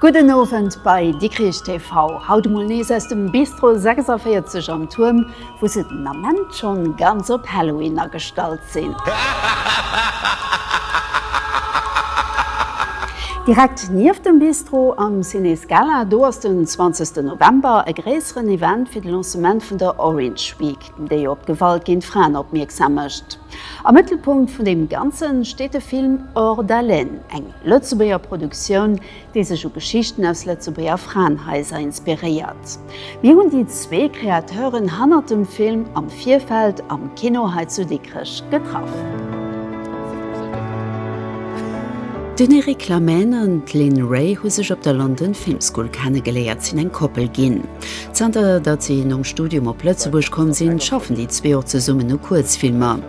Gudden Owend bei Dikrich TV, haut emol nees aus dem Bistro 46 am Tuerm, wou se den Ament schonn ganz op Halloween agestallt sinn. Direkt nieft dem Bistro, am Ciné Scala, do ass den 20 November e gréisseren Event fir de Lancement vun der Orange Week. déi op d'Gewalt géint Fraen opmierksam mécht. Am Mëttelpunkt vun deem Ganze steet de Film Hors d'haleine, eng Lëtzebuerger Produktioun, déi sech u Geschichten aus Lëtzebuerger Fraenhaiser inspiréiert. Mir hunn déi zwee Kreateuren hannert dem Film am Virfeld am Kino hei zu Dikrech getraff. Den Eric Lamhène an d'Lynn Ray hu sech op der London Film School kennegeléiert, sinn eng Koppel ginn. Zanter datt si nom Studium op Lëtzebuerg komm sinn, schaffen déi zwee och zesummen u Kuerzfilmer.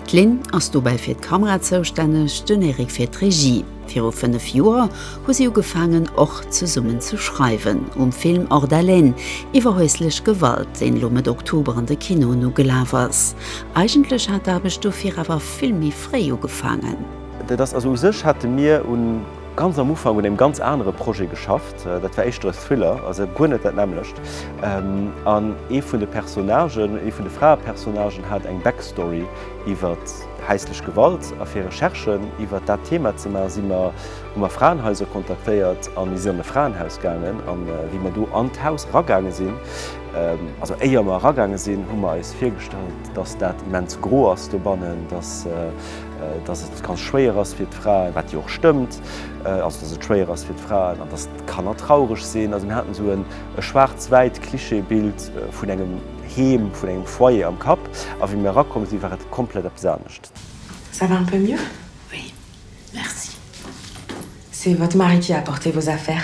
D'Lynn ass dobäi fir d'Kamera zoustänneg, den Eric fir d'Regie. Viru fënnef Joer hu si ugefaangen, och zesummen ze schreiwen. Um Film Hors d'haleine iwwer häuslech Gewalt, deen elo Mëtt Oktober an de Kinoen ugelaf ass. Eigentlech hat d'Aarbecht dofir awer vill méi fréi ugefaangen. Dat ass also u sech hate mir un. Ganz am Ufank un engem ganz anere Projet geschafft. Dat war éischter e Thriller, also guer net dat nämmlecht. An ee vun de Personnagen, ee vun de Fraepersonagen hat eng Backstory iwwer häislech Gewalt. A fir Recherchen iwwer dat Thema ze maachen, si mer, hu mer Fraenhaiser kontaktéiert a mir sinn an e Fraenhaus gaangen. A wéi mer do an d'Haus eragaange sinn, also éier mer eragaange sinn, hu mer eis virgestallt, dass dat immens gro ass dobannen, dass, dass et ganz schwéier ass fir d'Fraen, wat jo och stëmmt, also dass et schwéier ass fir d'Fraen an dass d'Kanner traureg sinn. Also mir haten esou e schwaarz-wäit Klischeebild vun engem Heem, vun engem Foyer am Kapp a wéi mir erakomm sinn, war et komplett eppes anescht. Ça va un peu mieux? Oui, merci. C'est votre mari qui a apporté vos affaires?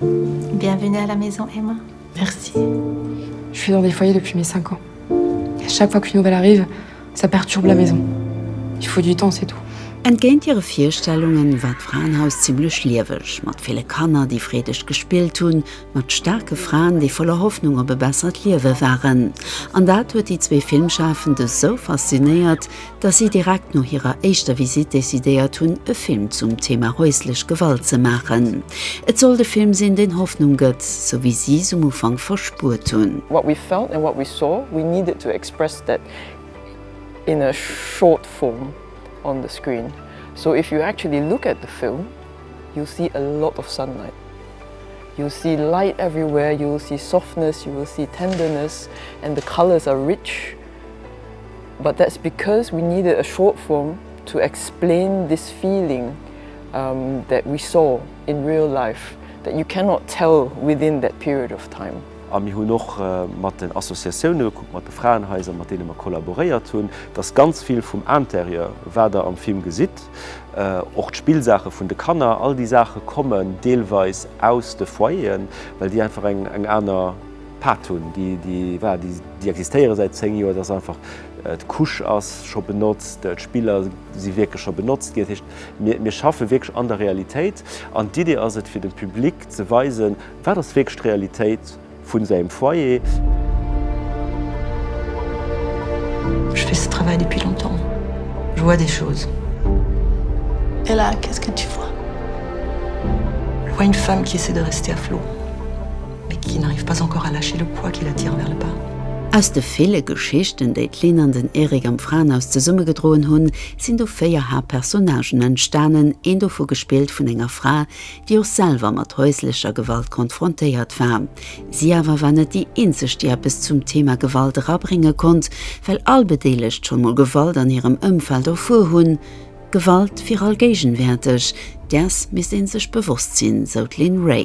Bienvenue à la maison Emma. Merci. Je suis dans des foyers depuis mes 5 ans. Et à chaque fois qu'une nouvelle arrive, ça perturbe la maison. Il faut du temps, c'est tout. Entgéint hire Virstellungen war d'Fraenhaus zimmlech lieweg, mat ville Kanner, déi freedeg gespillt hunn, mat staarke Fraen, déi voller Hoffnung op e bessert Liewe waren. An dat huet déi zwee Filmschafend esou faszinéiert, dass si direkt no hirer éischter Visitt decidéiert hunn, e Film zum Thema häuslech Gewalt ze maachen. Et sollt e Film sinn, deen Hoffnung gëtt, sou wéi si s'um Ufank verspuert hunn. What we felt and what we saw, we needed to express that in a short form on the screen. So if you actually look at the film, you'll see a lot of sunlight, you'll see light everywhere, you will see softness, you will see tenderness and the colours are rich. But that's because we needed a short form to explain this feeling that we saw in real life that you cannot tell within that period of time. A mir hunn och mat den Associatioune gekuckt, mat de Fraenhaiser, mat deene mer kollaboréiert hunn, dass ganz vill vum Intérieur, wat Der am Film gesitt, och d'Spillsaache vun de Kanner, all déi Saache kommen deelweis aus de Foyeren, well déi einfach eng aner. Pad hunn, déi existéiere säit 10 Joer, dass einfach d'Couche ass scho benotzt, d'Spiller si wierklech scho benotzt ginn. Dat heescht, mir schaffe wierklech an der Realitéit an d'Idee ass et, fir dem Public ze weisen, wat ass wierklech d'Realitéit vu sengem Foyer. Je fais ce travail depuis longtemps, je vois des choses. Et là, qu'est-ce que tu vois? Je vois une femme qui essaie de rester à flot. Mais qui n'arrive pas encore à lâcher le poids qui l'attire vers le bas. Aus de ville Geschichten, déi d'Lynn an den Eric am Fraenhaus zesummegedroen hunn, sinn du véier Haaptpersonnagen entstanen, een dovu gespillt vun enger Fra, déi och selwer mat häuslecher Gewalt konfrontéiert war. Si awer war net déi eenzeg, déi eppes zum Thema Gewalt erabrénge konnt, well all Bedeelegt scho mol Gewalt an hirem Ëmfeld erfuer hunn. Gewalt wier allgéigenwäerteg, däers misst ee sech bewosst sinn, sou d'Lynn Ray.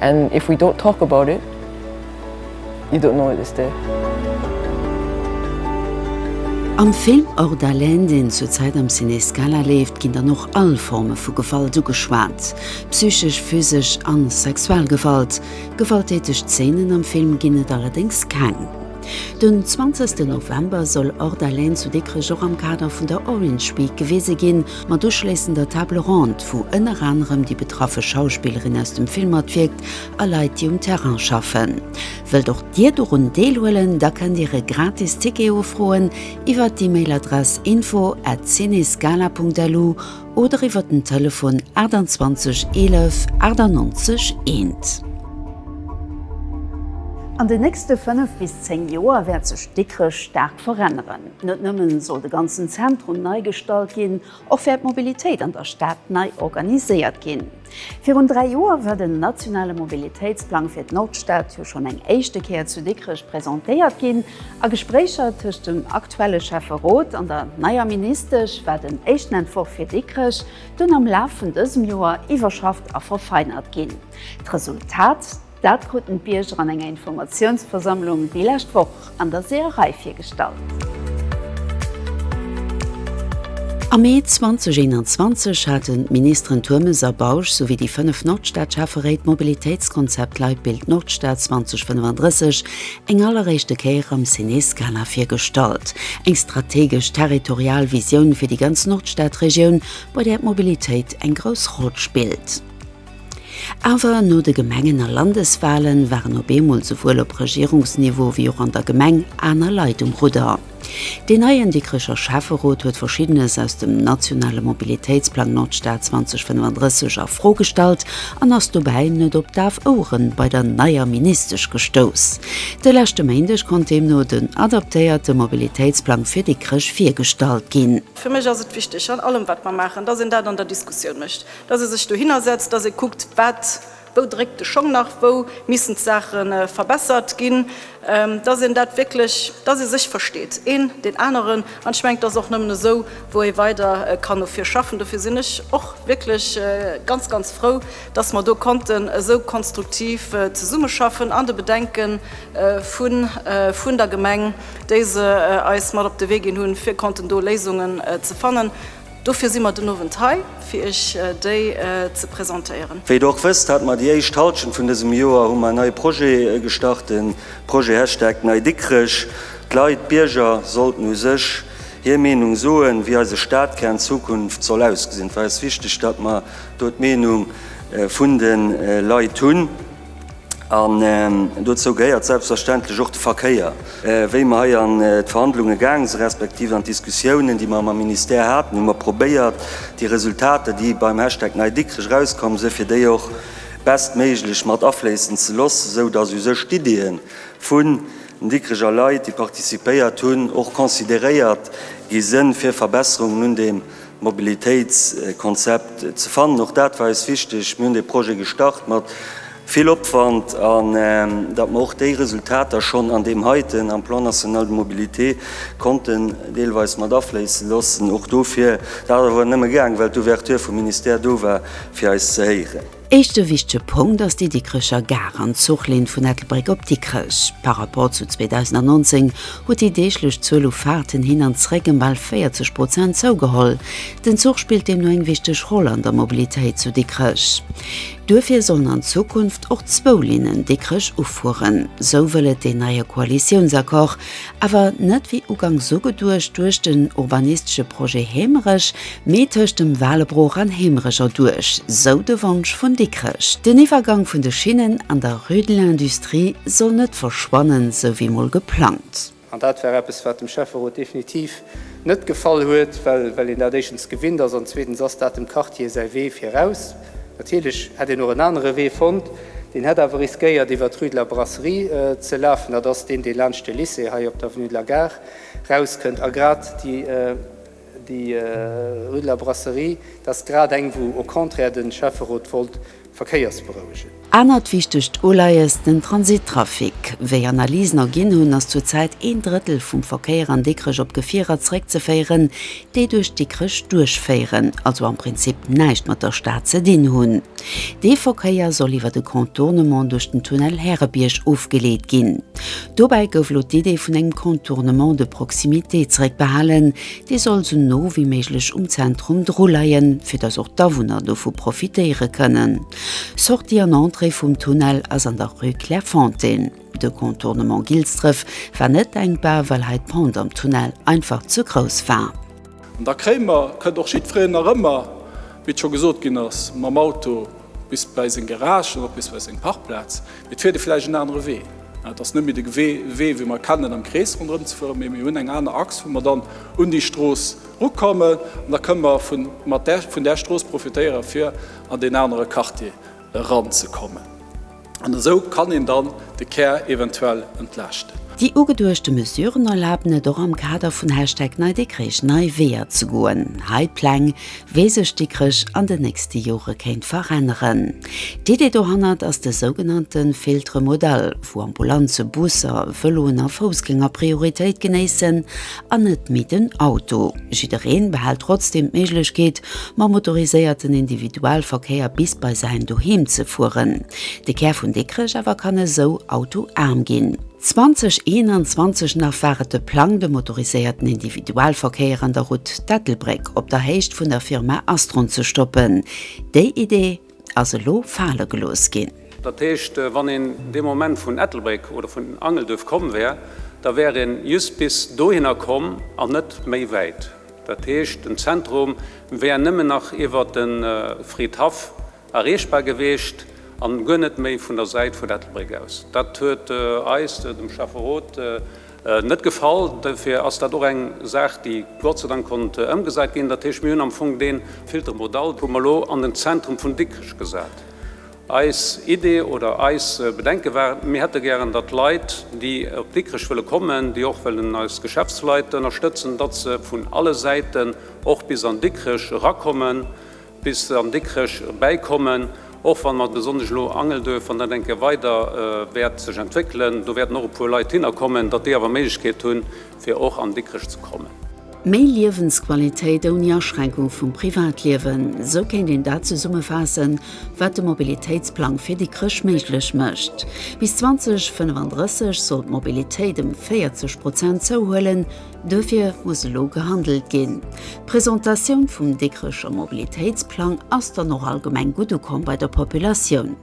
And if we don't talk about it, you don't know it is there. Am Film Hors d'haleine, deen zur Zäit am Ciné Scala leeft, ginn dann och all Forme vu Gewalt ugeschwat, psychesch, physesch a sexuell Gewalt. Gewalttäteg Zeenen am Film ginn et allerdéngs keng. Den 20 November soll Hors d'haleine zu Dikrech och am Kader vun der Orange Week gewise ginn. Mat uschléissender Table ronde, wou ënner anerem déi betraffe Schauspillerin aus dem Film matwierkt a Leit, déi um Terrain schaffen. Wëllt och Dir dorun deelhuelen? Da kënnt Dir e gratis Ticket ofroen iwwert d'Emailadress info at cinescala.lu oder iwwert den Telefon 28 11 98 1. An den nächste 5 bis 10 Joer wäert sech Dikrech staark veränneren. Net nëmme soll de ganzen Zentrum nei gestalt ginn, och wäert d'Mobilitéit an der Stad nei organiséiert ginn. Virun dräi Joer war den nationale Mobilitéitsplang fir d'Nordstad jo schonn eng éischte Kéier zu Dikrech presentéiert ginn. A Gespréicher tëscht dem aktuelle Schäfferot an der neier Ministesch war den éischten Entworf fir Dikrech dunn am Laf vun dësem Joer iwwerschafft a verfeinert ginn. D'Resultat? Dat kruten d'Bierger an enger Informatiounsversammlung déi lescht Woch an der Seeërei virgestallt. Am Mee 2021 haten d'Ministeren Turmes a Bausch souwéi déi fënnef Nordstad-Schäfferéit d'Mobilitéitskonzept Leitbild Nordstad 2035 eng alleréischte Kéier am Ciné-Scala virgestallt. Eng strategesch territorial Visioun fir déi ganz Nordstad-Regioun, bei där d'Mobilitéit eng grouss Roll spillt. Awer no de Gemengen a Landeswalen waren op eemol souwuel op Regierungsniveau wéi och an der Gemeng aner Leit um Rudder. Deen neien Dikrecher Schäfferot huet Verschiddenes aus dem nationale Mobilitéitsplang Nordstad 2035 a Fro gestallt an ass dobäi net op daf Ouere bei der neier Ministesch gestouss. De leschte Méindeg konnt deemno den adaptéierte Mobilitéitsplang fir Dikrech virgestallt ginn. Fir mech ass et wichteg an allem wat mer maachen, datt een dat an der Diskussioun mécht. dass e sech dohinner setzt, dass e kuckt, wat, wou dréckt de Schong nach, wou missten d'Saache verbessert ginn, dass een dat wierklech, dass ee sech versteet, een deen aneren. An ech mengen, et ass och nëmmen esou, wou ee weider kann no vir schaffen. Dofir sinn ech och wierklech ganz, ganz frou, dass mer do konnten esou konstruktiv zesummeschaffen an de Bedenke vun der Gemeng, déi se eis mat op de Wee ginn hunn, fir konnten do Léisungen ze fannen. Dofir si mer den Owend hei, fir Iech déi ze presentéieren. Wéi der och wësst, hate mer déi éischt Halschent vun dësem Joer hu mer en neie Projet gestart, de Projet Hashtag Nei Dikrech. D'Leit, d'Bierger sollten u sech hir Meenung soen, wéi eise Stadkär an Zukunft soll ausgesinn. Et war eis wichteg, datt mer do d'Meenung vun de Leit hunn. An dozou gehéiert selbstverständlech och de Verkéier. Wéi mer hei an d'Verhandlunge gaange si respektiv an d'Diskussiounen, déi mer mam Ministère haten, hu mer probéiert, déi Resultater, déi beim Hashtag Nei Dikrech erauskomm sinn, fir déi och bestméiglech mat afléissen ze loossen, esou datt u sech d'Iddie vun den Dikrecher Leit, déi participéiert hunn, och consideréiert gi sinn, fir Verbesserungen un deem Mobilitéitskonzept ze fannen. Och dat war eis wichteg. Mir hunn dee Projet gestart mat vill Opwand. An datt mer och déi Resultater schonn an deem heiten, am Plan national de mobilité, konnten deelweis mat afléisse loossen, och dofir, dat ass awer nëmme gaang, well d'Ouverture vum Ministère do war, fir eis ze héieren. Éischte wichtege Punkt ass déi Dikrecher Gare an d'Zuchlinn vun Ettelbréck op Dikrech. Par rapport zu 2019 huet déi deeglech Zuel u Faarten hin an zréck ëm bal 40 Prozent zougeholl. Den Zuch spillt deemno eng wichteg Roll an der Mobilitéit zu Dikrech. Duerfir sollen an Zukunft och zwou Linnen Dikrech ufueren. Sou wëll et deen neie Koalitiounsaccord. Awer net wéi uganks esou geduecht duerch den urbanistesche Projet Hemerech, mee tëscht dem Walebroch an Hemerech erduerch, sou de Wonsch vun Dikrech. Den Iwwergang vun de Schinnen an der Rue de l'Industrie soll net verschwannen, sou wéi mol geplangt. An dat war eppes, wat dem Schäfferot definitiv net gefall huet, well een dat éischtens gewinnt ass an zweetens ass dat dem Quartier säi Wee viraus. Natierlech hätt een och en anere Wee fonnt, deen hätt awer riskéiert iwwer d'Rue de la Brasserie ze lafen. Dat ass deen, dee laanscht de Lycée hei op d'Avenue de la Gare rauskënnt. A grad déi Rue de la Brasserie, dat ass grad eng, wou au contraire de Schäfferot wollt Verkéiersberouegen. Anert wichtegt Uleies, den Transittrafic. Wéi Analysen erginn hunn, ass zur Zäit een Drëttel vum Verkéier an Dikrech op Gefierer zréckzeféieren, déi duerch Dikrech duerchféieren, also am Prinzip näischt mat der Stad ze dinn hunn. Dee Verkéier soll iwwer de Contournement duerch den Tunnel Härebierg ofgeleet ginn. Dobäi gouf elo d'Idee vun engem Contournement de proximité zréckbehalen, dee soll esou no wéi méiglech um Zentrum druleien, fir datt och d'Awunner dovu profitéiere kënnen. Sortie an Entrée vum Tunnel ass an der Rue Clairefontaine. De Contournement Gilsdref war net denkbar, well hei d'Pente am Tunnel einfach ze grouss war. An der Kréimer kënnt och jiddwereen nach ëmmer, wéi et scho gesot ginn ass, mam Auto bis bei seng Garage oder och bis bei seng Parkplaz. Mee et fiert ee vläicht en anere Wee. Et ass net méi de Wee, wéi mer e kennen, am Krees ronderëm ze fueren, mee mir hunn eng aner Achs, wou mer dann un déi Strooss erukommen. An da kënne mer vun där Strooss profitéieren, fir an deen anere Quartier eranzekommen. An esou kann een dann de Kär eventuell entlaaschten. Déi ugeduechte Mesuren erlaben et och am Kader vun Hashtag NeiDikrech nei Weeër ze goen. Hei d'Pläng, wéi sech Dikrech an den nächste Jore kéint veränneren. D'Idee dohannert ass de sougenannte Filtre modal, wou Ambulanze, Busser, Vëloen a Foussgänger Prioritéit genéissen an net méi den Auto. Jiddereen behält trotzdem d'Méiglechkeet, mam motoriséierten Individualverkéier bis bei säin Doheem ze fueren. De Kär vun Dikrech awer kann esou autoaarm ginn. 2021 nach war et de Plang, de motoriséierten Individualverkéier an der Route d'Ettelbréck op der Héicht vun der Firma Astron ze stoppen. Déi Idee ass elo fale gelooss ginn. Dat heescht, wann een dee Moment vun Ettelbréck oder vun Angelduerf komm wär, da wär ee just bis dohinner komm an net méi wäit. Dat heescht, den Zentrum wär nëmmen nach iwwer de Friedhaff erreechbar gewiescht an guer net méi vun der Säit vun Ettelbréck aus. Dat huet eis, dem Schäfferot, net gefall. Dofir ass dat och eng Saach, déi Gott sei Dank konnt ëmgesat ginn. Dat heescht, mir hunn am Fong dee Filtre modal hu mer elo an den Zentrum vun Dikrech gesat. Eis Idee oder eis Bedenke war, mir hätte gären, datt Leit, déi op Dikrech wëlle kommen, déi och wëllen eis Geschäftsleit ënnerstëtzen, datt se vun alle Säiten och bis an Dikrech erakommen, bis se an Dikrech erbäikommen, och wann mer besonnesch elo Angelduerf, wann dat eng Kéier weider wäert sech entwéckelen, do wäerten och e puer Leit hinnerkommen, datt déi awer Méiglechkeet hunn, fir och an Dikrech ze kommen. Méi Liewensqualitéit ouni Aschränkung vum Privatliewen, esou kéint een dat zesummefaassen, wat de Mobilitéitsplang fir Dikrech méiglech mécht. Bis 2035 soll d'Mobilitéit ëm 40 Prozent zouhuelen. Dofir muss elo gehandelt ginn. D'Presentatioun vum Dikrecher Mobilitéitsplang ass dann och allgemeng gutt ukomm bei der Populatioun.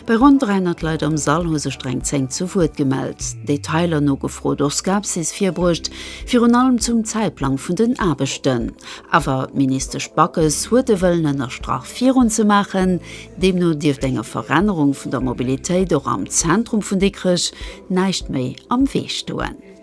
Bei ronn 300 Leit am Sall hu sech der eng 10 zu Wuert gemellt, Detailer nogefrot, och Skepsis virbruecht, virun allem zum Zäitplang vun den Aarbechten. Awer d'Ministesch Backes huet de Wëllen ënnerstrach virun ze maachen. Deemno dierft enger Verännerung vun der Mobilitéit och am Zentrum vun Dikrech näischt méi am Wee stoen.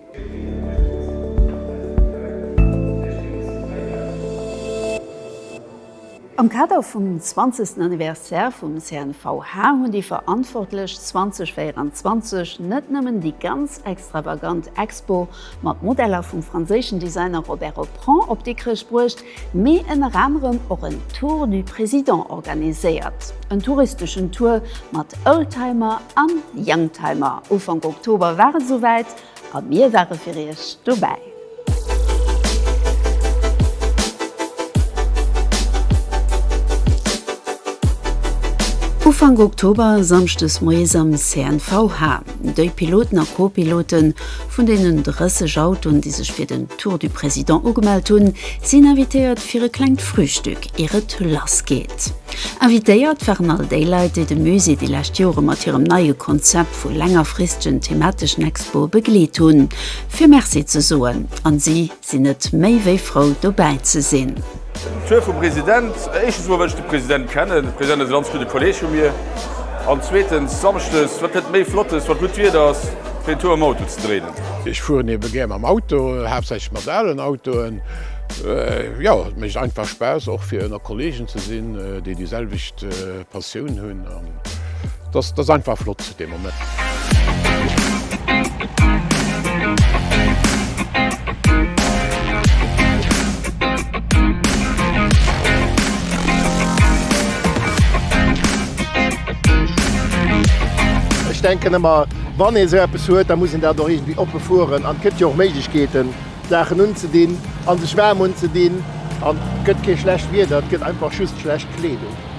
Am Kader vum 20. Anniversaire vum CNVH hunn déi Verantwortlech 2024 net nëmmen déi ganz extravagant Expo mat Modeller vum franséischen Designer Robert Aupran op Dikrech bruecht, mee ënner anerem och en Tour du Président organiséiert, en touristeschen Tour mat Oldtimer an Youngtimer. Ufank Oktober war et esou wäit a mir ware fir Iech dobäi. Ufank Oktober, Samschdes moies am CNVH, déi Piloten a Co-Piloten vun deenen 30 Autoen, déi sech fir den Tour du Président ugemellt hunn, sinn invitéiert fir e klengt Frühstück ier et lass geet. Invitéiert waren all déi Leit, déi de Musée déi lescht Jore mat hirem neie Konzept vu längerfristegen themateschen Expoe begleet hunn, fir Merci ze soen, an si sinn net méi wéi frou dobäi ze sinn. D'Zuel vum President, éischtens emol, well ech de President kennen. De President ass e ganz gudde Kolleeg vu mir. An zweetens, Samschdes, wat gëtt et méi Flottes, wa gutt Wieder ass, fir en Tour mam Auto ze dréinen? Ech fueren ebe gär mam Auto, haaptsächlech mat alen Autoen. Jo, et mécht einfach Spaass, och fir ënner Kolleegen ze sinn, déi déi selwecht Passioun hunn an dass dass einfach flott zu dem Moment. Ech denken ëmmer wann ee sou eppes huet, da muss een dat och iergendwéi oppe fueren an et gëtt jo och Méiglechkeeten Saachen unzedinn a sech waarm unzedinn an et gëtt kee schlecht Wieder, et gëtt einfach just schlecht Kleedung.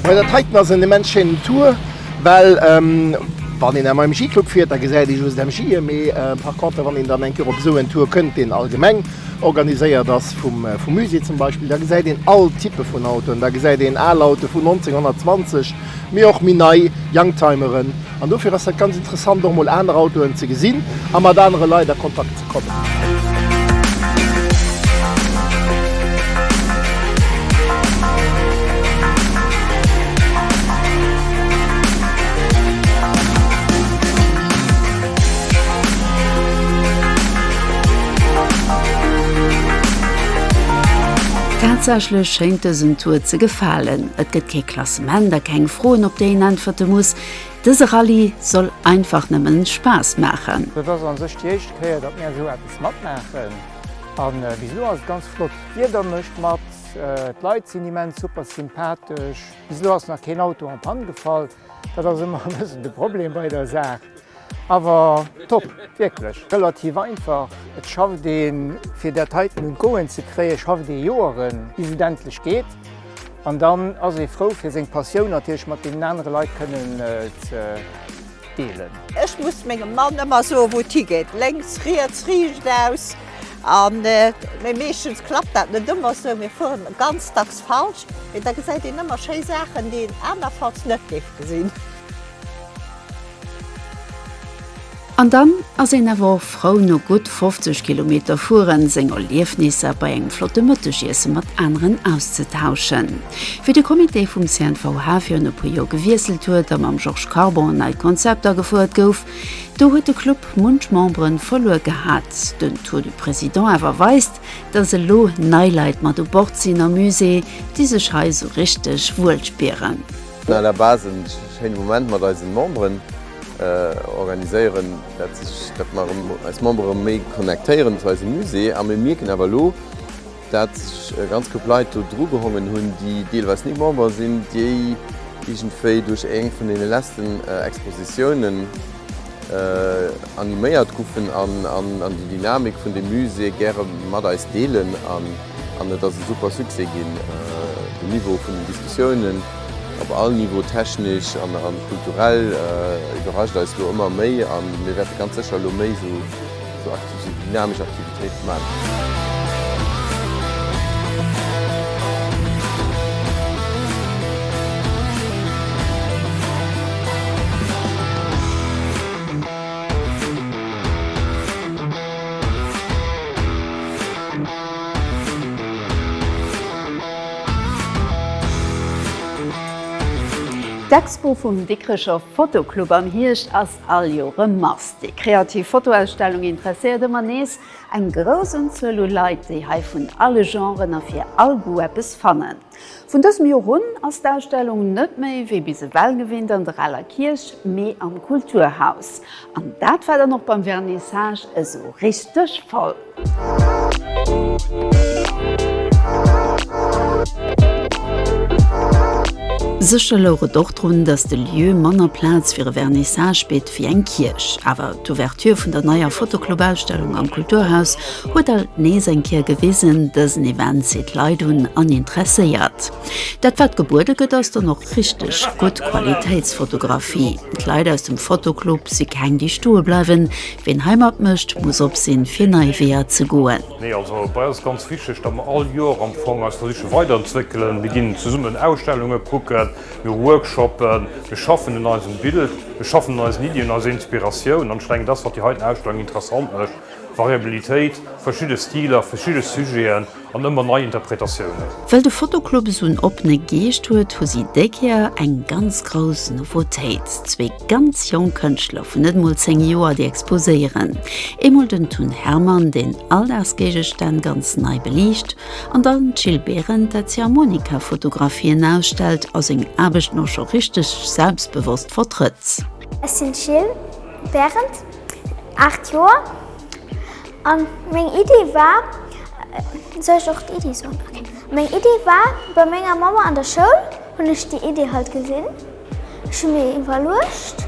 Hei dat heiten ass en immens schéinen Tour, well wann een am MJ-Club fiert, da gesäit ee just MJe, mee par contre wann een dann eng Kéier op esou en Tour kënnt, deen allgemeng organiséiert ass vum Musée zum Beispill, da gesäit een all Type vun Autoen, da gesäit een al Autoe vun 1920, mee och méi nei Youngtimeren an dofir ass dat ganz interessant och mol aner Autoen ze gesinn a mat anere Leit a Kontakt ze kommen. Tatsächlech schéint dësen Tour ze gefalen, et gëtt kee Klassement. Zum Enn da keng Froen op déi een äntwerte muss. Dëse Rallye soll einfach nëmmen Spaass maachen. Dat ass an sech déi éischt Kéier dat mir esou eppes matmaachen an bis elo ass et ganz flott. D'Wieder mécht mat, d'Leit sinn immens super sympathesch. Bis elo ass nach keen Auto en panne gefall, dat ass ëmmer e bëssen de Problem bei der Saach. Awer top, wierklech relativ einfach. Et schafft ee fir dat heiten un d'Goen ze kréien, schafft ee Joeren bis et endlech geet an dann ass ee frou fir seng Passioun natierlech mat deenen anere Leit kënnen ze deelen. Ech muss mengem Mann ëmmer soen wou et higeet, lénks, riets, riicht aus an, mee meeschtens klappt dat net ëmmer esou, mir fueren ganz dacks falsch, mee da gesäit een ëmmer schéi Saachen déi een anerfalls net géif gesinn. An dann ass een awer och frou no gutt 50 Kilometer fueren, seng Erliefnisser bei engem flotte Mëttegiesse mat aneren auszetauschen. Wéi de Comité vum CNVH virun e puer Joer gewiesselt huet a mam Georges Carbon en neit Konzept agefouert gouf, do huet de Club munch Membere verluer gehat. Den Tour du Président awer weist, dass elo nei Leit mat u Bord sinn am Musée, déi sech hei esou richteg wuel spieren. Vun à la base en schéine Moment mat eisen Memberen organiséieren, dat sech dat mer erëm eis Member erëm méi connectéieren zu eisem Musée. A mir mierken awer elo, dat sech e ganz Koup Leit do dru gehongen hunn, déi deelweis ni Member sinn, déi iergendwéi duerch eng vun deene leschten Expositiounen, animéiert goufen an déi Dynamik vun dem Musée gäre mat eis deelen an et ass e super Succès ginn. Den Niveau vun den Diskussiounen op all Niveau, technesch an kulturell, iwwerrascht eis elo ëmmer méi a mir wäerte ganz sécher elo méi esou Esou aktiv sinn, dynamesch Aktivitéit man. D'Expo vum Dikrecher Fotoclub am Hierscht ass All Joer rëm ass déi kreativ Fotoausstellung interesséiert ëmmer nees eng grouss Unzuel u Leit, déi hei vun alle Genren a fir all Goût eppes fannen. Vun dësem Joer un ass d'Ausstellung net méi wéi bis ewell gewinnt an der Aler Kierch, mee am Kulturhaus. An dat war dann och beim Vernissage esou richteg voll. Sécher louch et och drun, datt de Lieu manner Plaz fir e Vernissage bitt wéi eng Kierch. Awer d'Ouverture vun der neier Fotoclubausstellung am Kulturhaus huet alt nees eng Kéier gewisen, Dësen Event zitt Leit un an interesséiert. Dat wat gebuede gëtt ass dann och richteg gutt Qualitéitsfotografie. D'Leit aus dem Fotoclub si keng déi stoe bleiwen, Ween hei mat mécht, muss op sinn, fir nei Weeër ze goen. Nee, also bei eis ass ganz wichteg, datt mer all Joer am Fong eis da siche weiderentwéckelen. Mir ginn zesummen Ausstellunge kucken, mir hu Workshoppen, mir schaffen un eisem Bild, mir schaffen un eisen Iddien, eiser Inspiratioun. An ech denken, dat ass, wat déi heiten Ausstellung interessant mécht, Variabilitéit, verschidde Stiler, verschidde Sujeten. An ëmmer nei Interpretatiounen. Well de Fotoclub esou en oppene Geescht huet, hu si déi Kéier eng ganz grouss Nouveautéit, zwee ganz jonk Kënschtler vun net emol 10 Joer, déi exposéieren. Eemol den Tun Hermann, deen Alldagsgéigestänn ganz nei beliicht, an dann d'Jill Behren, dat d'Ziehharmonika-Fotografien ausstellt a seng Aarbechten och scho richteg selbstbewosst vertrëtt. Ech sinn d'Jill Behren, 8 Joer. An meng Iddi war, soll ech och d'Iddi soen? Okay. Meng Iddi war, bei menger Mamma an der Schoul hunn ech déi Iddi halt gesinn. Ech hu mir iwwerluecht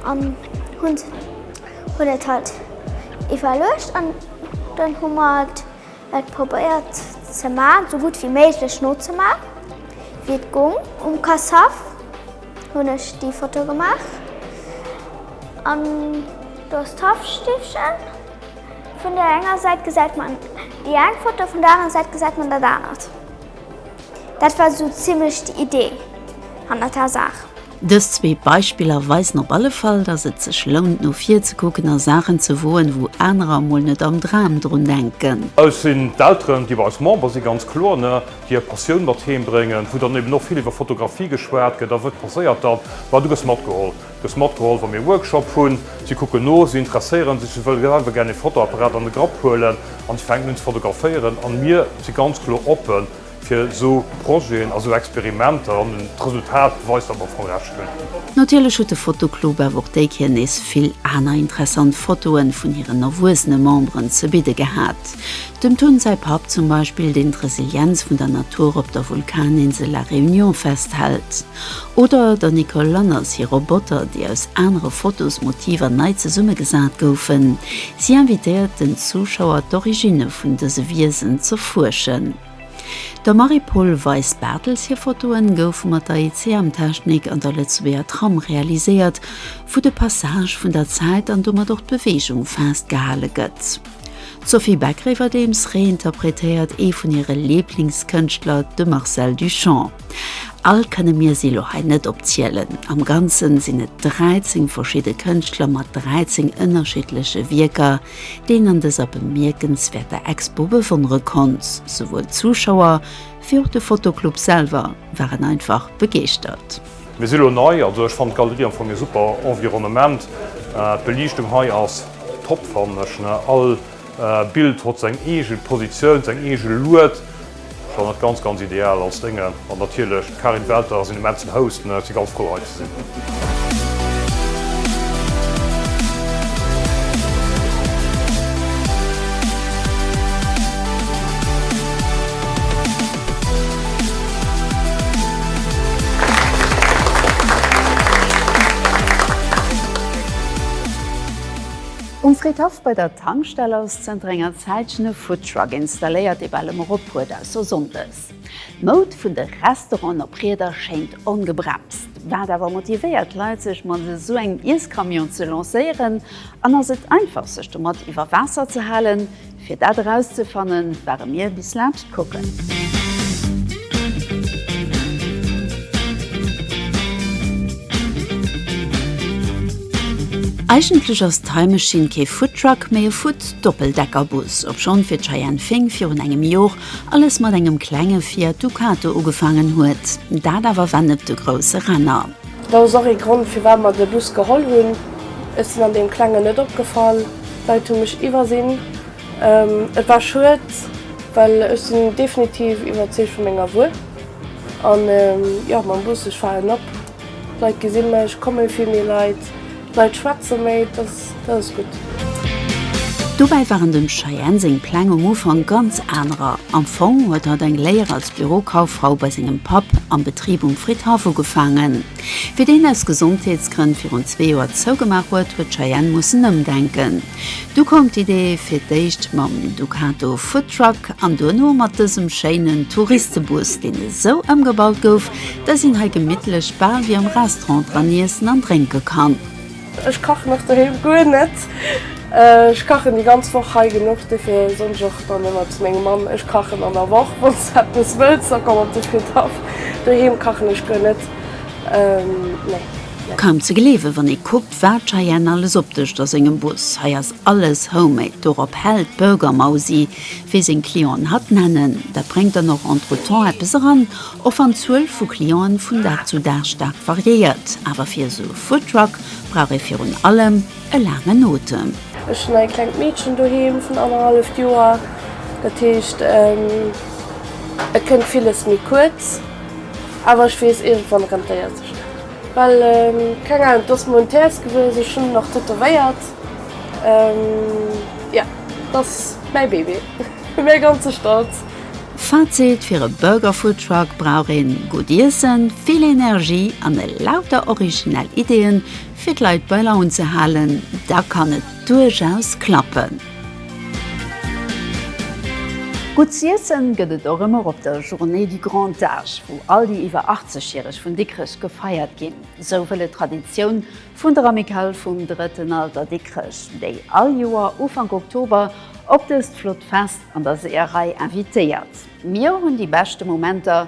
an hunn hunn et halt iwwerluecht an dann hu mer et et probéiert ze man, esou gutt wéi méiglech nozemaachen, wéi et goung um Cassave. Hun ech déi Foto gemaach an do ass d'Haffstiffchen vun der enger Säit gesäit man déi eng Foto vun der aner Säit gesäit man dat anert. Dat war sou zimlech déi Idee hannert der Saach. Dës zwee Beispiller weisen op alle Fall, dass et sech lount no vir ze kucken a Saachen ze woen, wou anerer mol net am Dram drun denken. Eis sinn d'Elteren, déi bei eis Member si ganz kloer. hir Passioun mat heem bréngen, wou dann eben och vill iwwer Fotografie geschwat gëtt, a wat passéiert dann, ma du gëss matgeholl, gëss matgeholl wa mir Workshop hunn, si kucken no, si interesséiere sech, si wëlle selwer gär e Fotoapparat an de Grapp huelen an si fänken un ze fotograféieren an mir si ganz kloer oppe fir esou Projeten a sou Experimenter an d'Resultat weist, datt mer am Fong Recht hunn. Natierlech huet de Fotoclub awer och déi Kéier nees vill aner interessant Fotoen vun hiren erwuesene Memberen ze bidde gehat. Dem Tun säi Papp zum Beispill, deen d'Resilienz vun der Natur op der Vulkaninsel La Réunion festhält. Oder der Nicole Lanners hir Roboter, déi aus anere Fotosmotiver nei zesummegesat goufen. Si invitéiert den Zuschauer, d'Originne vun dëse Wiesen z'erfuerschen. Der Marie-Paule Weis-Barthels hir Fotoen goufe mat der ICM-Technik an der Lëtzebuerger Tram realiséiert, wou de Passage vun der Zäit an domat och d'Beweegung festgehale gëtt. D'Sophie Beck-Rewerdeems reinterpretéiert ee vun hire Liblingskënschtler, de Marcel Duchamp. All kënne mir si lo hei net opzielen. Am Ganze sinn et 13 verschidde Kënschtler mat 13 ënnerschiddleche Wierker, déi een an dëser bemierkenswäerter Expo bewonnere konnt. Souwuel d'Zuschauer wéi och de Fotoclub selwer waren einfach begeeschtert. Mir si lo nei, also ech fannt d'Galerie am Fong ee super Environnement. D'Beliichtung hei ass top fannen ech ne. All Bild hott seng eegen Positioun, seng eegen Lued. Schon net ganz ganz ideal als Dénge. An natierlech d'Karin Welter ass een immensen Host ne. Ech si ganz frou hei ze sinn. Um Fridhaff bei der Tankstell ass zënter enger Zäitchen e Foodtruck installéiert, dee bal ëmmer ophuet, ausser Sonndes. D'Moud vun de Restauranten op Rieder schéngt ongebremst. Wat awer motivéiert d'Leit, sech mat esou engem Iesscamion ze lancéieren? An ass et einfach, sech domat iwwer Waasser ze halen? Fir dat erauszefannen, ware mir bis laanscht kucken. Eigentlech ass d'Time Machine kee Foodtruck, mee e Food-Doppeldeckerbus. Obschonn fir d'Cheyenne Fink virun engem Jor alles mat engem klenge Fiat Ducato ugefaangen huet, dat awer war net de grousse Renner. Dat ass och ee Grond, firwat mer de Bus geholl hunn. Ech sinn an deem Klengen net opgefall. D'Leit hu mech iwwersinn. Et war schued, well ech sinn definitiv iwwerzeegt vu menger Wuer. An, jo, mam Bus, ech falen op. D'Leit gesi mech, et komme vill méi Leit. D'Leit schwätze méi, dat ass gutt. Dobäi waren dem Cheyenne seng Pläng um Ufank ganz anerer. Am Fong huet hatt eng Léier als Bürokauffrau bei sengem Papp am Betrib um Fridhaff ugefaangen. Wéi deen aus Gesondheetsgrënn virun zwee Joer zougemaach huet, huet d'Cheyenne mussen ëmdenken. Du koum d'Idee fir d'éischt mam Ducato Foodtruck an duerno mat dësem schéinen Touristebus, deen esou ëmgebaut gouf, dass een hei gemittlech bal wéi am Restaurant dran iessen an drénke kann. Ech kachen och doheem guer net. Ech kachen déi ganz Woch hei genuch, dofir soen ech och dann ëmmer zu mengem Mann, ech kachen an der Woch, wann s de eppes wëlls, da komm op de Fridaf. Doheem kachen ech guer net, nee. Kaum ze gleewen, wann ee kuckt, Wat Cheyenne alles opdëscht a sengem Bus, hei ass alles homemade, dorop hält d'Burgermausi, wéi seng Clienten hatt nennen. Dat bréngt dann och entretemps eppes eran, och wann d'Zuel vu Clienten vun Dag zu Dag staark variéiert. Awer fir esou e Foodtruck brauch ee virun allem e laangen Otem. Ech hunn e klengt Meedchen doheem vun annerhalleft Joer, dat heescht et kënnt villes méi kuerz, awer ech weess, iergendwann rentéiert sech dat. Well keng Ahnung, dass mol en Terz gewuess ech hunn nach tätowéiert jo dass mäi Bébé mäi ganze Stolz. Fazit, Fir e Burger Food Truck brauch een gutt Iessen, vill Energie an e lauter originell Ideeën fir d'Leit bei Laun ze halen, da kann et duerchaus klappen. Gutt z'iessen gëtt et och ëmmer op der Journée du Grand Âge, wou all déi iwwer 80 Järeg vun Dikrech gefeiert ginn. Sou wëll et d'Traditioun vun der Amicale vum Drëtten Alter Dikrech, déi all Joer Ufank Oktober op dëst flott Fest an der Seeërei invitéiert. Mir hunn déi beschte Momenter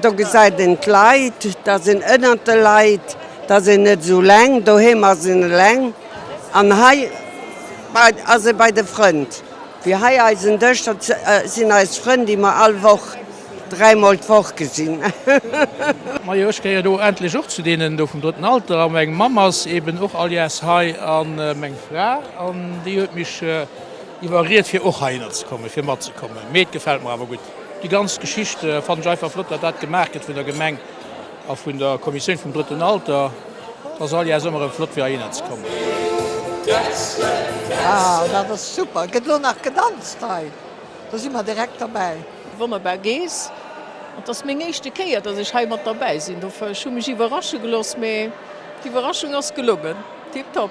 Do gesäit een d'Leit, da ass een ënnert de Leit, da ass een net esou eleng, doheem ass een eleng an hei ass ee bei de Frënd. Wéi hei eisen Dësch, dat sinn eis Frënn, déi mer all Woch, dräimol d'Woch gesinn. Majo, ech gehéier do endlech och zu deenen do vum drëtten Alter. A meng Mamm ass eeben och all Jahrs hei a meng Fra, an déi huet mech iwwerriet fir och heihinner ze kommen, fir matzekommen. Mee et gefält mer awer gutt. Déi ganz Geschicht fannen ech einfach flott, datt dat gemaach gëtt vun der Gemeng a vun der Kommissioun vum drëtten Alter. Et ass all Jahrs ëmmer erëm flott fir heihinner ze kommen. Wow, dat ass super! Gëtt elo nach gedanzt hei? Do si mer direkt derbäi! Wonnerbar Gees, et ass meng éischte Kéier dass ech hei mat derbäi sinn, dofir ech hu mech iwwerrasche gelooss, mee d'Iwwerraschung ass gelongen, tiptop.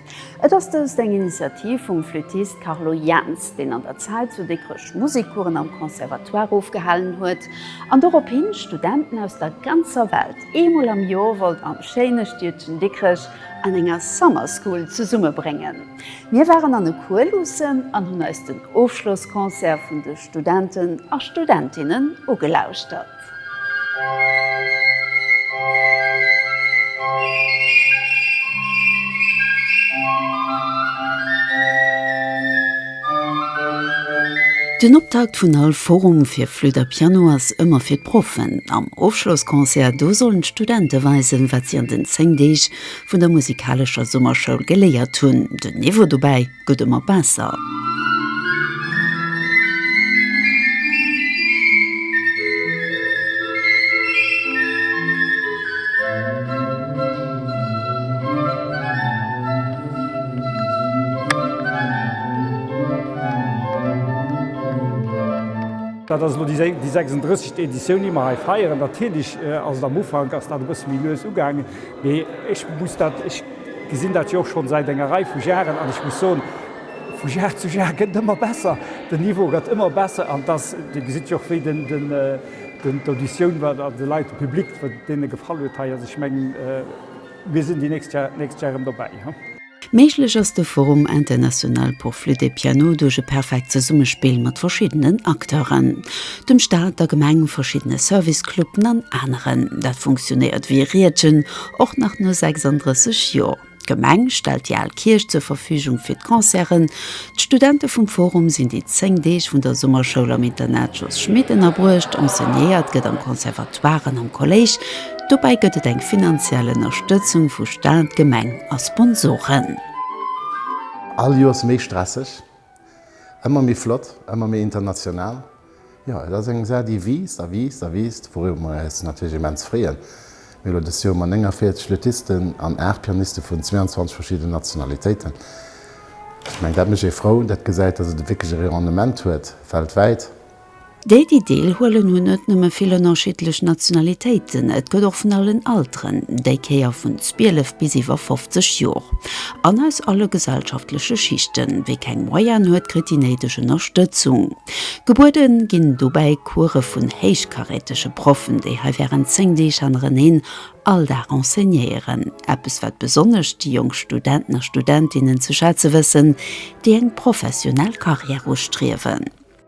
Et ass dëst eng Initiativ vum Flüttist Carlo Jaentz, deen an der Zäit zu Dikrech Musekcoursen am Conservatoire ofgehalen huet an dorophin Studenten aus der ganzer Welt eemol am Jor wollt am schéine Stiedchen Dikrech an enger Summer School zesummebréngen. Mir waren an e Cours luussen an hunn eis den Ofschlossconcert vun de Studenten a Studentinnen ugelauschtert. Den Optakt vun all Forum fir Flütt a Piano ass ëmmer fir d'Proffen. Am Ofschlossconcert do sollen d'Studente weisen, wat si an den 10 Deeg vun der musikalescher Summerschoul geléiert hunn. Den Niveau dobäi gëtt ëmmer besser. Dat ass elo déi 36. Editioun, déi mer hei feieren. Natierlech ass et am Ufank ass dat e bësse méi lues ugaangen, mee ech muss dat, ech Gesinn dat jo och schonn säit enger Rei vu Jaren an ech muss soen, vu Jar zu Jar gëtt et ëmmer besser. Den Niveau gëtt ëmmer besser an et ass, Dir gesitt jo och wéi den, den, d'Auditioun war an de Leit, de Public, wat deene gefall huet hei. Also ech mengen, mir sinn déi nächst Jar, d'nächst Jar erëm dobäi. Méiglech ass de Forum international pour flûte et piano duerch e perfekt Zesummespill mat verschiddenen Acteuren, dem Staat, der Gemeng, verschiddene Service-Cluben an aneren. Dat funktionéiert wéi e Riedchen. Och nach no 36 Joer. D'Gemeng stellt déi al Kierch zur Verfügung fir d'Concerten. D'Studente vum Forum sinn déi 10 Deeg vun der Summerschoul am Internat Jos Schmit ënnerbruecht. Enseignéiert gëtt am Conservatoire an am Kolléisch. Dobäi gëtt et eng finanziell Ënnerstëtzung vu Staat, Gemeng a Sponsoren. All Joers méi stresseg? Ëmmer méi flott, ëmmer méi international. Jo, et ass eng Saach, déi wiisst a wiisst a wiisst, wouriwwer mer eis natierlech immens freeën. Mir hu elo dëst Joer mat 49 Lutisten an 8 Pianiste vun 22 verschiddenen Nationalitéiten. Ech mengen, dat mécht ee frou, dat gesäit, dass et e wierkleche Rayonnement huet, weltwäit. Déi, déi deel huelen, hunn net nëmme vill ënnerschiddlech Nationalitéiten, et gëtt och vun allen Alteren, déi Kéier vun 12 bis iwwer 50 Jor, an aus alle gesellschaftleche Schichten. Wie keng Moyene huet, kritt déi néideg Ënnerstëtzung gebuede ginn. Dobäi Course vun héichkarätege Proffen, déi hei während 10 Deeg hannereneen all Dag enseignéieren. Eppes, wat besonnesch déi jonk Studenten a Studentinnen ze schätze wëssen, déi eng professionell Carrière ustriewen.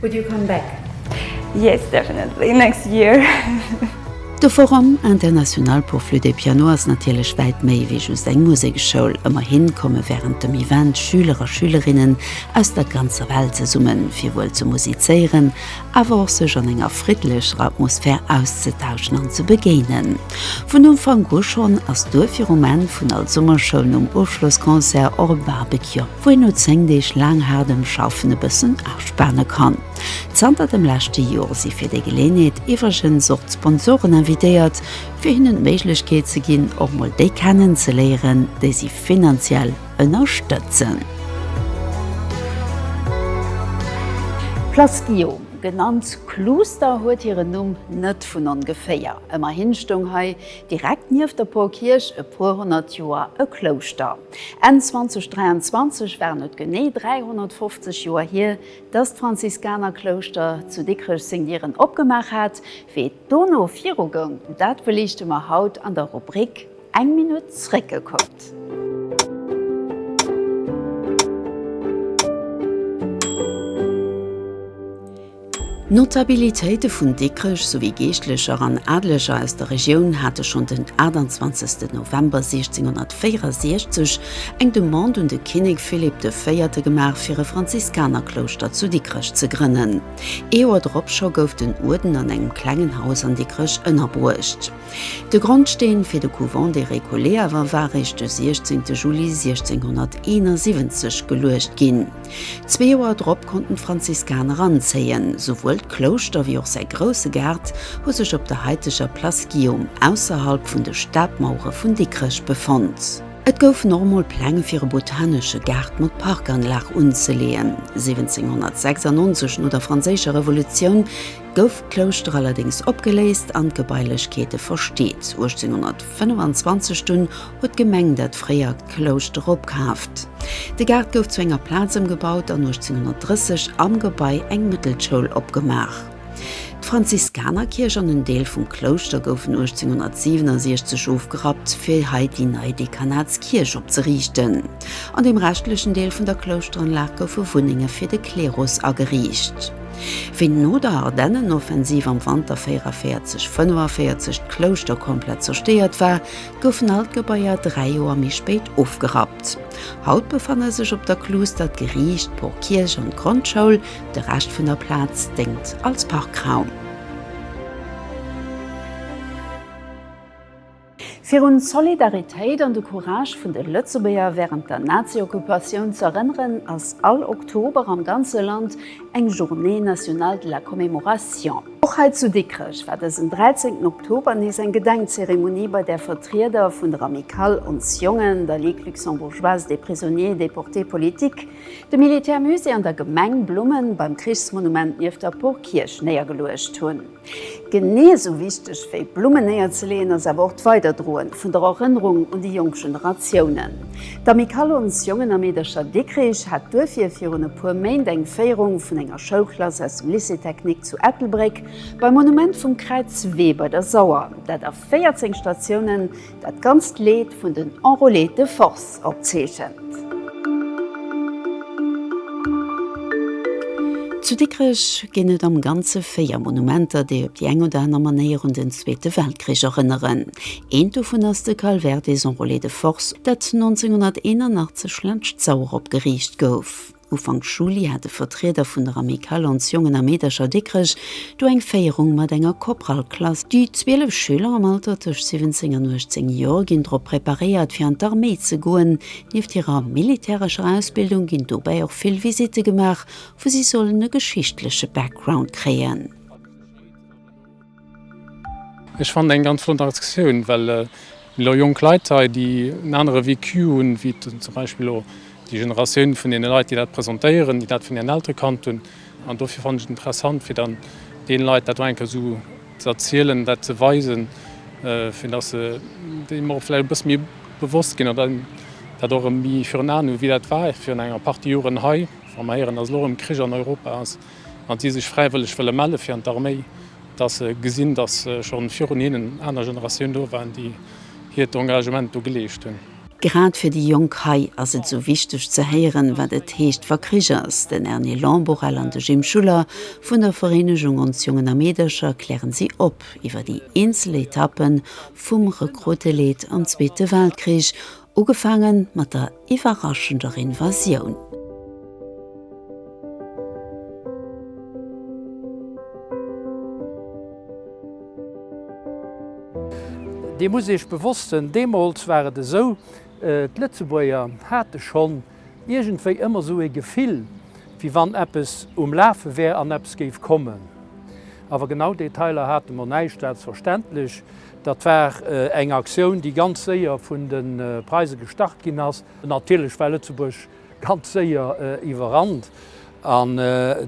Would you come back? Yes, definitely, next year! De Forum international pour flûte et piano ass natierlech wäit méi wéi just eng Museksschoul. Ëmmerhi komme wärend dem Event Schüler a Schülerinnen aus der ganzer Welt zesummen, fir wuel ze musizéieren, awer och sech an enger friddlecher Atmosphär auszetauschen an ze begéinen. Vun Ufank u schonn ass duerfir um Enn vun all Summerschoul nom Ofschlossconcert och e Barbecue wou een no 10 Deeg laang haardem Schaffen e bëssen aspanen kann. Zanter dem leschte Joer si fir déi Geleeënheet iwwregens och d'Sponsoren invitéiert, fir hinnen d'Méiglechkeet ze ginn, och mol déi kennen ze léieren, déi si finanziell ënnerstëtzen. D'Place Guillaume, genannt Kluuster, huet hiren Numm net vun ongeféier. Ëmmerhin stoung hei direkt nieft der Porkierch e puer honnert Joer e Klouschter. Enn 2023 waren et genee 350 Joer hier, datt d'Franziskanerklouschter zu Dikrech seng Dieren opgemaach hat. Wéi et dono viru goung, dat beliichte mer haut an der Rubrik Eng Minutt zréckgekuckt. Notabilitéite vun Dikrech souwéi Geeschtlecher an Adleger aus der Regioun hate schonn den 28 November 1664 eng Demande un de Kinnek Philipp de Véierte gemaach fir e Franziskanerklouschter zu Dikrech ze grënnen. Ee Joer drop scho gouf den Uerden an engem klengen Haus an Dikrech ënnerbruecht. De Grondsteen fir de Couvent des Récollets awer war eréischt de 16 Juli 1671 geluecht ginn. Zwee Joer drop konnten d'Franziskaner anzéien. Souwuel d'Klouschter wéi och säi grousse Gaart hu sech op der haiteger Place Guillaume ausserhalb vun de Stadmauere vun Dikrech befonnt. Et goufen och emol Pläng fir e botanesche Gaart mat Parkanlag unzeleeën. 1796, no der Franséischer Revolutioun, gouf d'Klouschter allerdéngs opgeléist an d'Gebailechkeete versteet. 1825 dunn huet d'Gemeng dat fréiert Klouschter opkaaft. De Gaart gouf zu enger Plaz ëmgebaut an 1830 am Gebai eng Mëttelschoul opgemaach. D'Franziskanerkierch an en Deel vum Klouschter goufen 1867 ofgerappt, fir hei déi nei Dekanatskierch opzeriichten. An dem reschtlechen Deel vun der Klouschteranlag goufe Wunnenge fir de Klerus ageriicht. Wéi no der Ardennenoffensiv am Wanter 44, 45 d'Klouschter komplett zerstéiert war, goufen all d'Gebaier dräi Joer méi spéit ofgerappt. Haut befanne sech op der Kluuster d'Geriicht, d'Porkierch an d'Grondschoul, de Rescht vun der Plaz déngt als Parkraum. Virun d'Solidaritéit an de Courage vun de Lëtzebuerger wärend der Nazi-Occupatioun ze erënneren, ass all Oktober am ganze Land eng Journée nationale de la commémoration. Och hei zu Dikrech war dësen 13 Oktober nees eng Gedenkzeremonie, bei där Vertrieder vun der Amicale Ons Jongen, der Ligue luxembourgeoise des prisonniers et déportés politiques, dem Militärmusée an der Gemeng Blummen beim Krichsmonument nieft der Porkierch néiergeluecht hunn. Genee esou wichteg wéi Blummen néierzeleeën ass awer och d'Weiderdroen vun der Erënnerung un déi jonk Generatiounen. D'Amicale Ons Jongen a Meedercher Dikrich hat duerfir virun e puer Méint eng Féierung vun enger Schoulklass aus dem Lycée Technique zu Ettelbréck beim Monument vum Kräiz Wee bei der Sauer, dat a 14 Statiounen Dat ganzt Leed vun den Enrôlés de Force opzeechent. Zu Dikrech ginn et am Ganze véier Monumenter, déi op déi eng oder aner Manéier un den Zweete Weltkrich erënneren. Eent dovun ass de Calvaire des Enrôlés de Force, dat 1981 laanscht d'Sauer opgeriicht gouf. Ufank Juli hat e Vertrieder vun der Amicale Ons Jongen a Meedercher Dikrech do eng Féierung mat enger Korpralklass. Déi 12 Schüler am Alter tëscht 17 an 18 Joer ginn drop preparéiert fir an d'Arméi ze goen. Nieft hirer militärescher Ausbildung ginn dobäi och vill Visitte gemaach, wou si sollen e geschichtleche Background kréien. Ech fannen eng ganz flott Aktioun, well mir elo jonk Leit hei, déi en anere Vécu hunn, wéi zum Beispill elo déi Generatioun vun deene Leit, déi dat presentéieren, déi dat vun hiren Eltere kannt hunn. An dofir fannen ech et interessant, fir dann deene Leit dat och eng Kéier esou ze erzielen, dat ze weisen, fir datt se deem och vläicht e bësse méi bewosst ginn oder dat och erëm méi virun Aen hunn, wéi dat war virun enger Partie Joren hei, wa mer héieren, datt elo erëm Krich an Europa ass. an déi sech fräiwëlleg wëlle melle fir an d'Arméi, datt se gesinn, datt scho virun hinnen aner Generatioun do waren, déi hiert Engagement do geleescht hunn. Grad fir déi Jonk hei ass et esou wichteg ze héieren, wat et heescht, wa Krich ass. Den Erny Lamborelle an de Jim Schuller vun der Vereenegung Ons Jongen a Meedercher kläre si op iwwer déi eenzel Etappe vum Rekrutteleed am Zweete Weltkrich, Ugefaange mat der iwwerraschender Invasioun. Dir musst iech bewosst sënn, deemools war et esou, d'Lëtzebuerger hate schonn iergendwéi ëmmer esou ee Gefill, wéi wann eppes um Lafe wär an eppes géif kommen. Awer genau Detailer hate mer näischt, dat ass verständlech, Dat war eng Aktioun, déi ganz séier vun de Preise gestart ginn ass. Natierlech war Lëtzebuerg ganz séier iwwerrannt an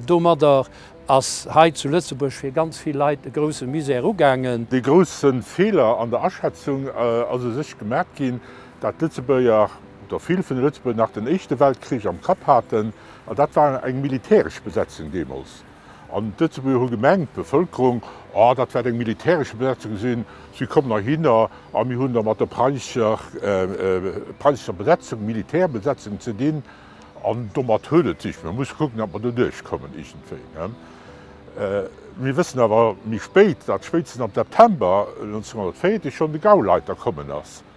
domadder ass hei zu Lëtzebuerg fir ganz vill Leit e grousse Misär ugaangen. Dee grousse Feeler an der Aschätzung ass u sech gemaacht ginn, dat d'Lëtzebuerger oder vill vun de Lëtzebuerger nach den Éischte Weltkrich am Kapp haten, an dat war eng militäresch Besetzung deemools. An d'Lëtzebuerger hu gemengt, d'Bevëlkerung, oh, dat wäert eng militäresche Besetzung sinn, si kommen erhinner a mir hunn da mat der preisescher Besetzung, Militärbesetzung ze dinn an domat huet et sech. Mir musse kucken, datt mer do duerchkommen iergendwéi. Mir wëssen awer méi spéit, datt spéitstens am September 1940 schonn de Gauleiter kommen ass.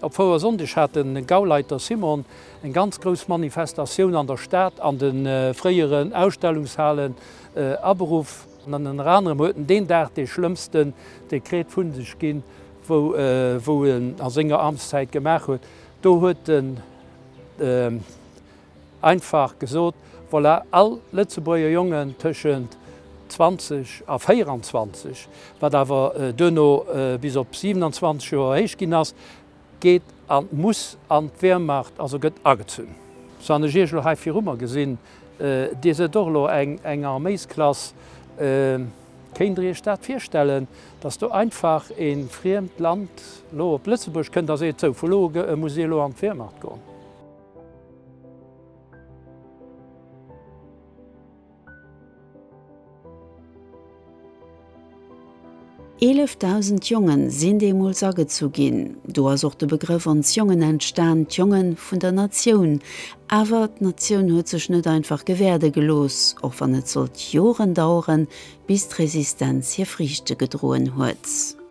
Op Fouersonndeg hat de Gauleiter Simon eng ganz grouss Manifestatioun an der Stad an de fréieren Ausstellungshalen aberuff. Ënner anerem huet en deen Dag dee schlëmmsten Dekret vu sech ginn, wou en a senger Amtszäit gemaach huet. Do huet den. Einfach gesot, voilà, all Lëtzebuerger Jongen tëschent 20 a 24, wat awer duerno bis op 27 Joer héich ginn ass, geet a muss an d'Wehrmacht, also gëtt agezunn. Sou han ech Iech elo hei viru mer gesinn, Dir sidd och elo eng Arméisklass. Kéint Der Iech dat virstellen, dass do einfach e friemt Land elo op Lëtzebuerg kënnt a seet, sou, vu lo u muss Dir elo an d'Wehrmacht goen? Eelefdausend Jongen sinn deemools agezu ginn. Do ass och de Begrëff ons Jongen entstan, d'Jongen vun der Natioun. Awer d'Natioun huet sech net einfach gewäerde gelooss, och wann et sollt Joren daueren, bis d'Resistenz hir Friichte gedroen huet.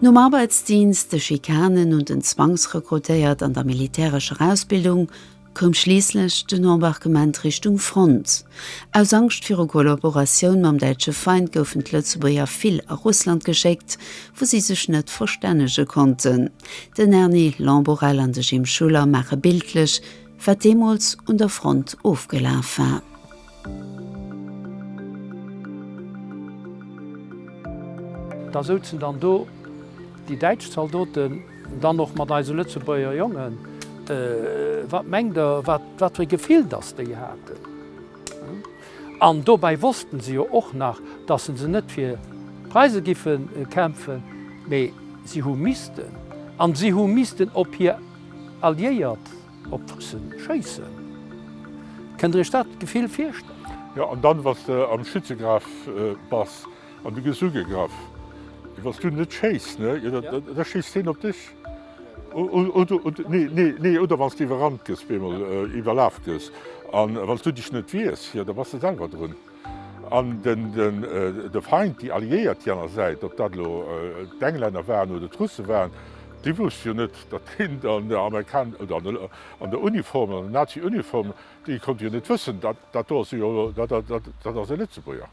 Nom Arbeitsdienst, de Schikanen und den Zwangsrekrutéiert an der militärescher Ausbildung koum schliisslech den Embarquement Richtung Front. Aus Angscht viru Kollaboratioun mam däitsche Feind goufen d'Lëtzebuerger vill a Russland geschéckt, wou si sech net verstännege konnten. Den Erny Lamborelle an de Jim Schuller maache bildlech, wat deemools un der Front ofgelaf war. Da souzen dann do déi däitsch Zaldoten dann och mat eise Lëtzebuerger Jongen. Wat mengt Der, wat fir e Gefill datt déi haten? An dobäi wosste se jo och nach, datt se se net fir d'Preise giffe kämpfen, mee si hu missten. A si hu missten op hir Alliéiert. Op d'Russen schéissen? Kënnt der iech dat Gefill virstellen? Jo, an dann, wann s de am Schützegraf bass an du gëss ugegraff, wann s du net schéiss, ne, da schéisst hien op dech. Nee, oder wann s de iwwerrannt gëss, bemol iwwerlaf gëss, a wann s du dech net wiers, jo, da bass de selwer drun. An de Feind, déi Alliéiert, déi aner Säit, ob dat elo d'Englänner waren oder d'Russe waren, déi wousste jo net, datt hien an der Amerikan oder an der Uniform, an der Nazi-Uniform, déi konnte jo net wëssen, dat do ass e Lëtzebuerger.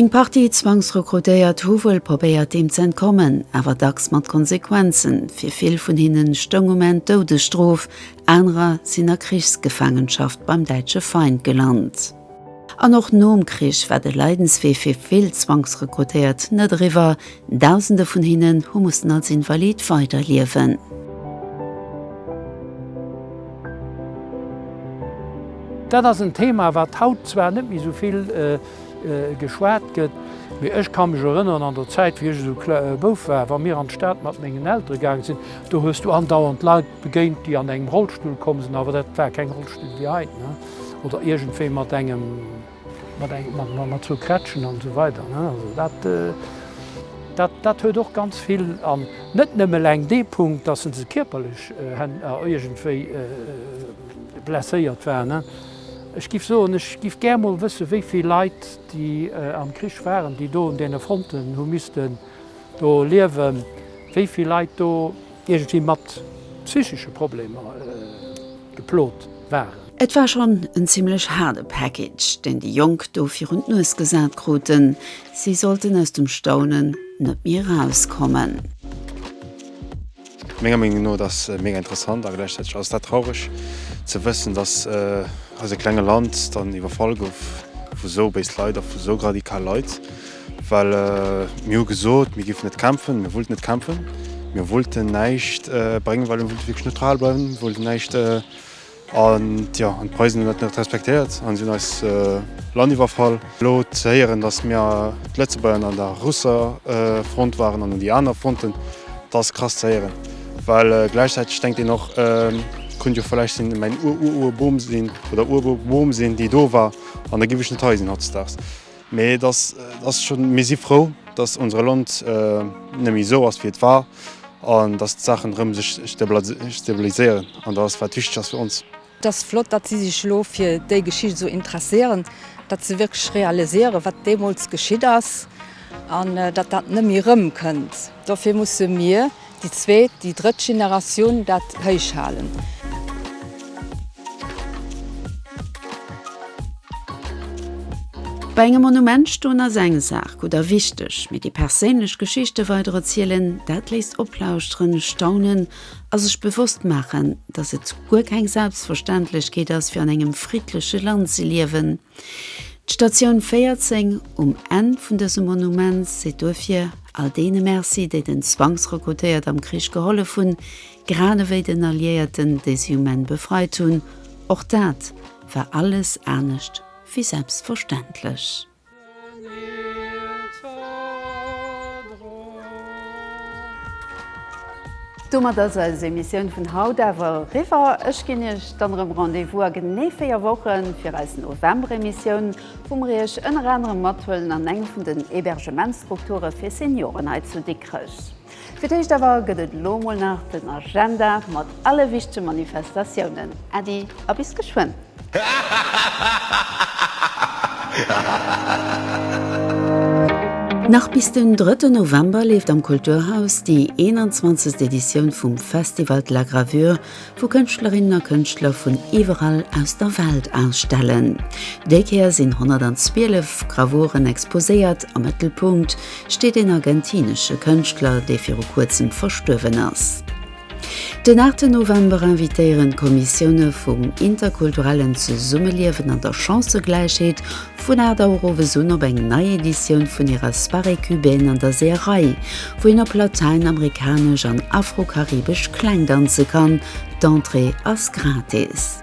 Eng Partie Zwangsrekrutéiert hu wuel probéiert deem ze entkommen, awer dacks mat Konsequenzen. Fir vill vun hinnen stoung um Enn d'Doudesstrof, anerer sinn a Krichsgefaangenschaft beim däitsche Feind gelant. An och nom Krich war de Leidenswee fir vill Zwangsrekrutéiert net eriwwer, Dausende vun hinnen hu mussen als Invalid weiderliewen. Dat ass en Thema, wat haut zwar net méi esou vill geschwat gëtt, mee ech ka mech erënneren an der Zäit, wéi ech esou Bouf war, wa mir an d'Stad mat mengen Eltere gaange sinn, do hues du andauernd Leit begéint, déi an engem Rollstull komm sinn, awer dat war keng Rollstull wéi hei. oder iergendwéi mat engem, mat eng, mat, mat, mat zwou Krätschen an esou weider, ne. Also dat, dat, dat huet och ganz vill, an net nëmme eleng dee Punkt, dass en ze kierperlech iergendwéi blesséiert war, ne. Ech giff soen, ech giff gär mol wësse wéi vill Leit, déi am Krich waren, déi do un deene Fronten hu missten do liewen, wéi vill Leit do Iergendwéi mat psychesche Problemer geplot waren. Et war schonn en zimlech haarde Package, deen déi Jonk do virun d'Nues gesat kruten. Si sollten aus dem Staunen net méi erauskommen. Menger Meenung no, et ass mega interessant a gläichzäiteg ass et dat traureg ze wëssen, dass eise klenge Land dann iwwerfall gouf vu sou béis Leit a vu sou radikal Leit. Well mir hu gesot, mir giffen net kämpfen, mir wollten net kämpfen, mir wollten näischt bréngen, well mir wollte wierklech neutral bleiwen, mir wollten näischt. An, jo, an d'Preisen hunn dat net respektéiert an si hunn eist Land iwwerfall. Elo ze héieren, datt mir, d'Lëtzebuerger, an der Russefront waren an un déi aner Fronten, dat ass krass ze héieren. Well gläichzäiteg denkt een och, et konnt jo vläicht sinn, mäin Ur-Ur-Urboom sinn oder Ururboom sinn, déi do war, an da giff ech net hei sinn hautdesdaags. Mee et ass ass schonn, mir si frou, datt unsere Land net méi esou ass wéi et war an datt d'Saachen erëm sech stabiliséieren an dat ass wat wichteg ass fir ons. Et ass flott, datt si sech elo fir déi Geschicht esou interesséieren, datt se wierklech realiséieren, wat deemools geschitt ass an datt dat net méi erëmkënnt. Dofir musse mir, Déi zweet, déi drëtt Generatioun dat héich halen. Bei engem Monument stoen ass eng Saach, gutt a wichteg, mee déi perséinlech Geschichte weider erzielen, dat léisst oplauschteren, staunen a sech bewosst maachen, datt et guer keng Selbstverständlechkeet ass fir an engem friddleche Land ze liewen. D'Statioun 14 um Enn vun dësem Monument seet duerfir all deene Merci, déi den Zwangsrekrutéiert am Krich gehollef hunn, grad ewéi den Alliéierten, déi si um Enn befreit hunn. Och dat war alles anescht wéi selbstverständlech. Domat ass eis Emissioun vun haut awer eriwwer. Ech ginn Iech dann erëm Rendez-vous a genee 4 Wochen fir eis November-Emissioun, wou mer Iech ënner anerem mathuelen an eng vun den Hebergementsstrukture fir Senioren hei zu Dikrech. Fir d'éischt awer gëtt et elo mol nach den Agenda mat alle wichtege Manifestatiounen. Äddi a bis geschwënn! Nach bis den drëtten November leeft am Kulturhaus déi 21. Editioun vum Festival de la Gravure, wou Kënschtlerinnen a Kënschtler vun iwwerall aus der Welt ausstellen. Déi Kéier sinn 112 Gravuren exposéiert. Am Mëttelpunkt steet een argentinesche Kënschtler, dee viru kuerzem verstuerwen ass. Den 8 November invitéieren d'Kommissioune vum interkulturellen Zesummeliewen an der Chancëgläichheet Vun 8 Auer owes un op eng nei Editioun vun hirer Soirée Cubaine an der Seeërei, wou een op latäinamerikanesch an afrokaribesch Kläng danze kann. D'Entrée ass gratis.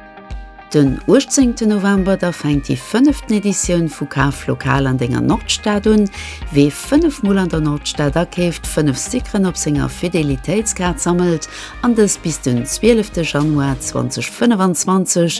Den 18 November da fänkt déi fënneften Editioun vu Kaf lokal an denger Nordstad un. Wee fënnef Mol an der Nordstad akeeft, fënnef Stickeren op senger Fidelitéitskaart sammelt an dës bis den 12 Januar 2025